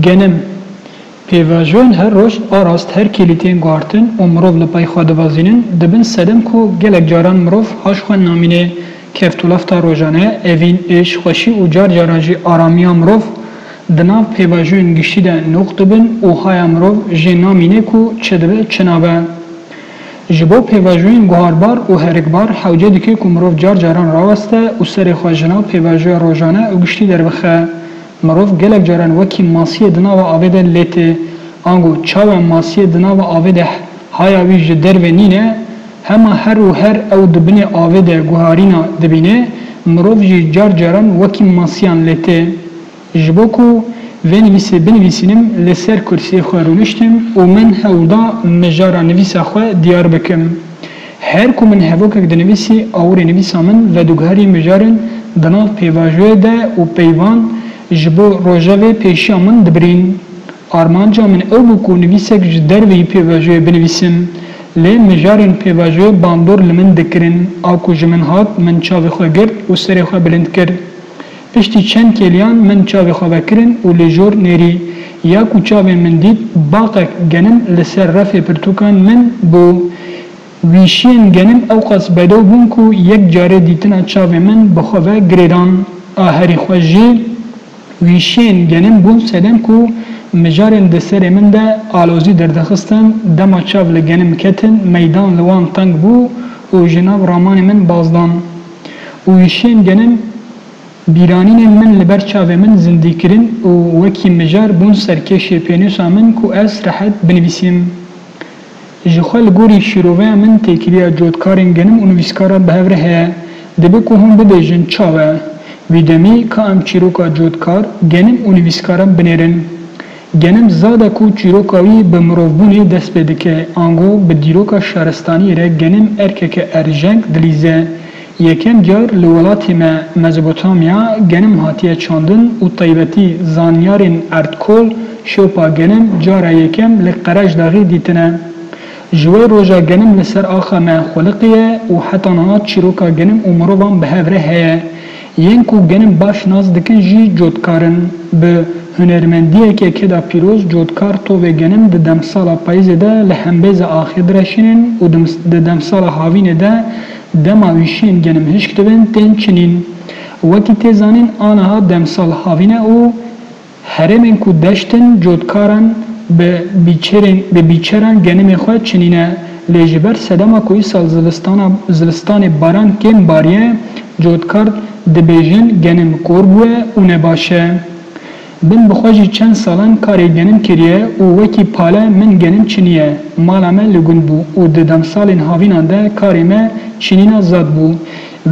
Genim, pêvajoyên her roj a rast her kêlî tên guhartin û mirov li pey xwe divazînin, dibin sedem ku gelek caran mirov haş xwe namînê. Keft û lafta rojane, evîn, êş, xweşî û car caran jî aramiya mirov di nav pêvajoyên giştî de nûq dibin û haya mirov jê namînê ku çi dibe çi nabe. Ji bo pêvajoyên guharbar û herikbar hewce dike ku mirov car caran raweste û serê xwe ji nav pêvajoya rojane û giştî derbixe. Mirov gelek caran wekî masiyê di nava avê de lê tê. Ango çawa masiyê di nava avê de haya wî ji derve nîne? Hema her û her ew di binê avê de guharîna dibîne, mirov jî car caran wekî masiyan lê tê. Ji bo ku vê nivîsê binivîsînim li ser kursiyê xwe rûniştim û min hewl da mijara nivîsa xwe diyar bikim. Her ku min hevokek dinivîsî awirê nivîsa min vedugarî mijarin di nav pêvajoyê de û peyvan ji bo rojevê pêşiya min dibirîn. Armanca min ew bû ku nivîsek ji derveyî pêvajoyê binivîsim. Lê mijarên pêvajoyê bandor li min dikirin. A ku ji min hat min çavê xwe girt û serê xwe bilind kir. Piştî çend kêliyan min çavê xwe vekirin û li jor nêrî ya ku çavên min dît baqek genim li ser refê pirtûkan min bû. Wîşiyên genim ewqas bedew bûn ku yek carê dîtina çavê min bi xwe ve girê dan. A herî xweş jî wîşiyên genim bûn sedem ku mijarên di serê min de alozî derdixistin, dema çav li genim ketin meydan li wan teng bû û ji nav ramanê min baz dan. û êşên genim bîranînên min li ber çavê min zindî kirin û wekî mijar bûn serkêşê pênûsa min ku ez rehet binivîsim. Ji xwe li gorî şîroveya min têkiliya cotkarên genim û nivîskaran bi hev re heye. Dibe ku hûn bibêjin çawa? Wî demî ka em çîroka cotkar, genim û nivîskaran binêrin. Genim zade ku çîroka wî bi mirovbûnê dest pê dike, ango bi dîroka şaristaniyê re genim erkeke erjeng dilîze. Yekem car li welatê me Mezopotamya genim hatiye çandin û taybetî zanyarên erdkol şopa genim cara yekem li Qereşdaxî dîtine. Ji wê roja genim li ser axa me xweliqiye û heta niha çîroka genim û mirovan bi hev re heye. Yên ku genim baş nas dikin jî cotkar in. Bi hunermendiyekê Keda Pîroz cotkar tovê genim di demsala payîzê de li hembêza axê direşînin û di demsala havînê de dema wîşiyên genim hişk dibin tên çinîn. Wekî tê zanîn aniha demsal havîn e û. Herêmên ku deşt in cotkaran bi bîçerên bi bîçeran genimê xwe çinîne lê ji ber sedema ku îsal zivistana zivistanê baran kêm bariye cotkar dibêjin genim kor bûye û ne baş e. Bin bi xwe jî çend salan karê genim kiriye û wekî pale min genim çinîye. Mala me li gund bû û di demsalên havînan de karê me çinîna zad bû.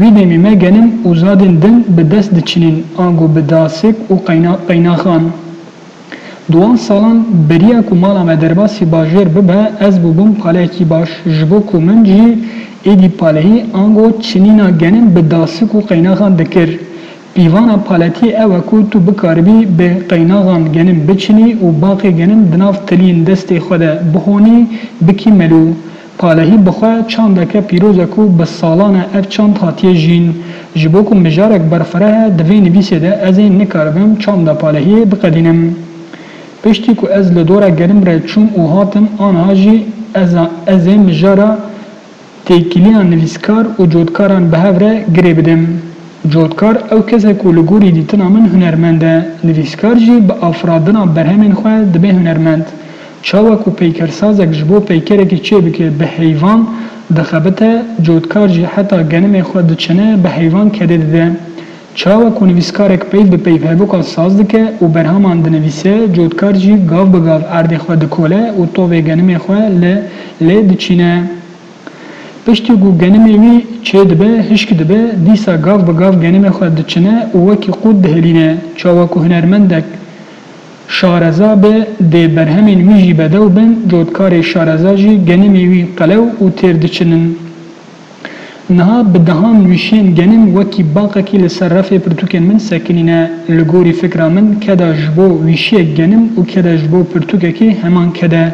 Wî demê me genim û zadên din bi dest diçinên ango bi dasik û qeynaxan. Di wan salan beriya ku mala me derbasî bajêr bibe ez bûbûm paleyekî baş ji bo ku min jî êdî paleyî ango çinîna genim bi dasik û qeynaxan dikir. Pîvana paletiyê ew e ku tu bikaribî bi qeynaxan genim biçinî û baqê genim di nav tiliyên destê xwe de bihonî, bikî melû. Palehî bi xwe çandeke pîroz e ku bi salan e ev çand hatiye jîn. Ji bo ku mijarek berfireh e di vê nivîsê de ez ê nikaribim çanda palehiyê biqedînim. Piştî ku ez li dora genim re çûm û hatim aniha jî ez ê mijara Têkiliya nivîskar û cotkaran bi hev re girê bidim. Cotkar ew kes e ku li gorî dîtina min hunermend e, nivîskar jî bi afiradina berhemên xwe dibe hunermend. Çawa ku peykersazek ji bo peykerekî çê bike bi heyvan dixebite, cotkar jî heta genimê xwe diçine bi heyvan kedê dide. Çawa ku nivîskarek peyv bi peyv hevûkan saz dike û berhaman dinivîse, cotkar jî gav bi gav erdê xwe dikole û tovê genimê xwe li lê diçîne. Piştî ku genimê wî çê dibe, hişk dibe, dîsa gav bi gav genimê xwe diçine û wekî qût dihilîne. Çawa ku hunermendek şareza be, dê berhemên wî jî bedew bin, cotkarê şareza jî genimê wî qelew û têr diçinin. Niha bi dehan wişên genim wekî baqekî li ser refê pirtûkên min sekinîne. Li gorî fikra min keda ji bo wişiyek genim û keda ji bo pirtûkekê heman ked e.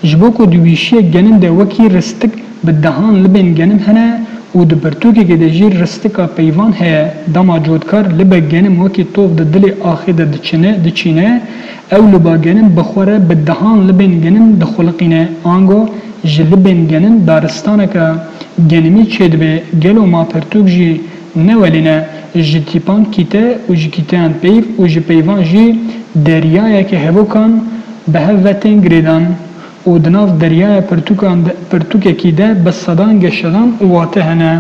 Ji bo ku di wişiyek genim de wekî ristik bi dehan libên genim hene û di pirtûkekê de jî ristika peyvan heye, dema cotkar libe genim wekî tox di dilê axê de diçine, diçîne, Ew li ba genim bi xwe re bi dehan libên genim dixuliqîne, ango ji libên genim daristaneke genimî çêdibe, gelo ma pirtûk jî ne welê ne, ji tîpan kîte û ji kîteyan peyv û ji peyvan jî deryayeke hevokan bi hev ve tên girêdan. û di nav deryaya pirtûkan de pirtûkekî de bi sedan geşedan û wate hene.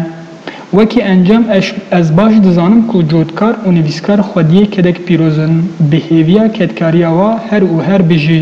Wekî encam eş ez baş dizanim ku cotkar û nivîskar xwediyê kedek pîroz in, bi hêviya kedkariya wa her û her bijî.